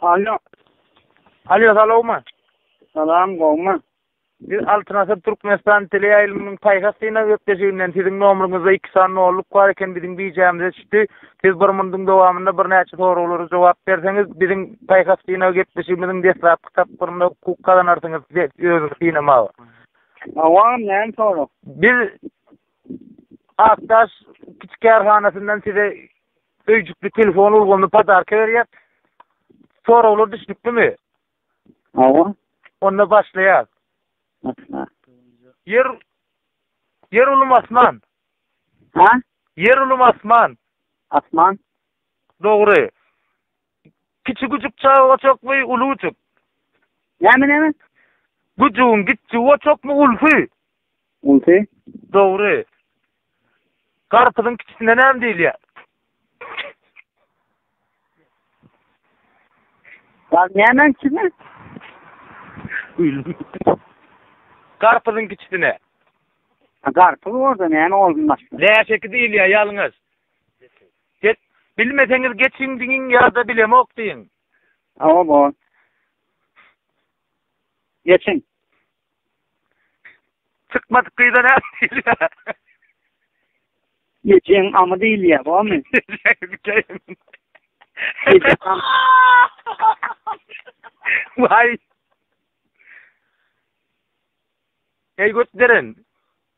Alo. Alo, salawmy? Salam, gowmy? Biz Altyn Asyr Türkmenistan teleýaýlymynyň paýhas synag gepleşiginden siziň nomuryňyzda iki sany nolluk bar eken, biziň bijämize düşdi. Siz bir munduň dowamynda birnäçe soraglara jogap berseňiz, biziň paýhas synag gepleşigimiziň deslapky tapgyrynda hukuk gazanarsyňyz özüňizi synamaga. Awa, näme sorag? Biz Akdaş kiçi kärhanasyndan size öýjükli telefon ulgamyny podarka berýär. Soraglar düşnüklimi? Hawa. Onda başlaýar. Başla. Ýer Ýer ulum asman. Ha? Ýer ulum asman. Asman. Dogry. Kiçi güjük çagaçakmy, uly güjük? Näme näme? Güjügiň kiçi uaçakmy, ulsy? Ulsy. Dogry. Garpyzyň kiçisine näme diýilýär? Gar näme kiçisine? Garpyzyň kiçisine. Garpyz orada näme olmaz. Läşeki diýilýär ýalňyş. Get, bilmeseňiz geçiň diňiň ýa-da bilemok diýiň. Hawa bor. Geçiň. Çykmadyk gyza ne diýilýär? Geçiň amy diýilýär, bormy? Vay. Ey götderen.